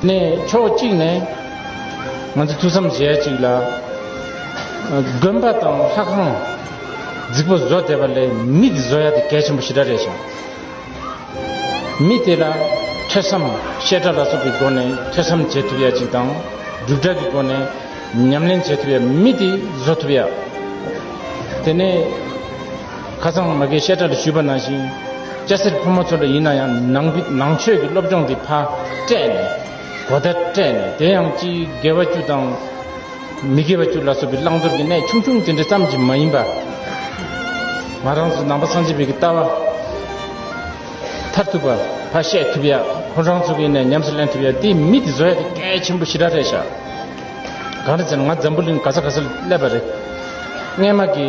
ནས་ཕྱོགས་གཅིག་ནས་ང་ཚོས་ཐུགས་བསམ་བཞེས་གཅིག་ལ། དགོན་པ་དང་ལྷ་ཁང་རྫིག་པོ་བཟོ་བསྡད་པ་ལས་མི་དེ་བཟོ་ཡ་དེ་གལ་ཆེན་པོ་ཞེ་དྲག་རེད་ཞང། མི་དེ་ལ་ཐོས་བསམ་བཤད་གྲྭ་ལ་སོགས་ཀྱི་སྒོ་ནས་ཐོས་བསམ་བྱེད་ཐུབ་ཡ་གཅིག་དང་སྒྲུབ་གྲྭ་གི་སྒོ་ནས་ཉམས་ལེན་བྱེད་ཐུབ་ཡ་མི་དེ་བཟོ་ཐུབ་ཡ། དེ་ནས། ཁ་སང་མ་གའི་བཤད་གྲྭ་རུ་ཞུས་པ་ནང་བཞིན། སྐྱ་སེར་ཕོ་མོ་ཚོ་འདྲ་ཡིན་ན་ཡང་ནང་པའི་ནང་ཆོས་ཀྱི་སློབ་སྦྱོང་དེ་ཕ་སྤྲད་ནས། གོ་བརྡ་སྤྲད་ནས་དེ་ཡང་ཅི་དགེ་བ་བཅུ་དང། མི་དགེ་བ་བཅུ་ལ་སོགས་པའི་བླང་དོར་གྱི་གནད་ཆུང་ཆུང་དེ་འདྲ་ཙམ་གྱིས་མ་ཡིན་པ། ང་རང་ཚོ་ནང་པ་སངས་རྒྱས་བོད་ཀྱི་ལྟ་བ་མཐར་ཐུག་པ་ཕ་བཤད་ཐུབ་ཡ་ཁོང་རང་ཚོ་གི་ནས་ཉམས་སུ་ལེན་ཐུབ་ཡ་དེ་མི་དེ་བཟོ་ཡ་དེ་གལ་ཆེན་པོ་ཞི་དྲག་རེད་ཤག་གང་རེད་ཟེར་ན་ང་འཛམ་བུ་གླིང་ག་ས་ག་སར་སླེབས་པ་རེད། རྔན་མ་གི།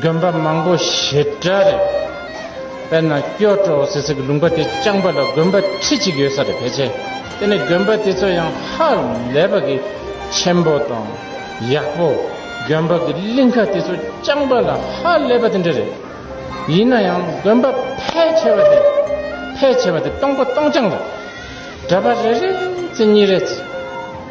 དགོན་པ་མང་པོ་ཞེ་དྲག་རེད། དཔེར་ན་སྐྱོ་བྲོ་ཟེར་སའི་ལུང་པ་དེ་རྐྱང་པ་ལ་དགོན་པ་ཁྲི་གཅིག་ཡོད་ས་རེད་ཕལ་ཆེར། དེ་ནི་དགོན་པ་དེ་ཚོ་ཡང་ཧ་ལས་པ་གི་ཆེན་པོ་དང་ཡག་པོ། དགོན་པ་གི་གླིང་ཁ་དེ་ཚོ་རྐྱང་པ་ལ་ཧ་ལས་པ་དེ་འདྲ་རེད། ཡིན་ན་ཡང་དགོན་པ་ཕལ་ཆེ་བ་དེ་ཕལ་ཆེ་བ་དེ་སྟོང་པ་སྟོང་རྐྱང་རེད། གྲྭ་པ་རེ་རེ་ཚེ་གཉིས་རེ་ཚེ།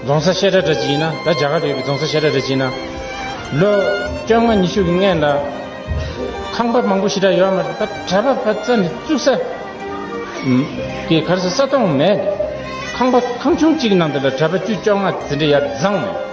རྫོང་སར་བཤད་གྲྭ་གྲ་གཅིག་ཡིན་ན་ད་རྒྱ་གར་དུ་ཡོད་པའི་རྫོང་སར་བཤད་གྲྭ་གྲ་གཅིག་ཡིན་ན། ལོ་བཅོ་ལྔ་ཉི་ཤུ་གི་སྔས་ལ། ཁང་པ་མང་པོ་ཞེ་དྲག་ཡོད་མ་རེད་པ་གྲྭ་པ་བ་ཙམ་གྱི་བཙུགས་ས། གི་གར་ས་ས་སྟོང་མེད། ཁང་པ་ཁང་ཆུང་གཅིག་གི་ནང་དུ་ལ་གྲྭ་པ་བཅུ་བཅོ་ལྔ་དེ་འདྲ་ཡར་བརྫངས་ནས།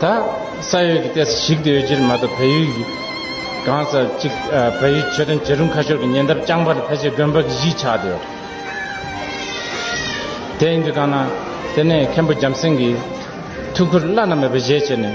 ད་ས་ཡོད་ཀྱི་ལྟས་ས་ཞིག་ཏུ་ཡོད་ཕྱིར་མ་གཏོགས་བལ་ཡུལ་གྱི་གང་ས་ཅིག་བལ་ཡུལ་ཆོས་དོན་བྱེད་རུང་ཁ་ཤོར་གྱི་ཉེ་འདབས་རྐྱང་པར་ཕལ་ཆེར་དགོན་པ་གྱི་གཞིས་ཆགས་ཏེ། དེ་ཡིན་དུས་གང་ན་དེ་ནས་མཁན་པོ་འཇམ་སེང་གིས་ཐུགས་ཁུར་བླ་ན་མེད་པ་བཞེས་བྱས་ནས།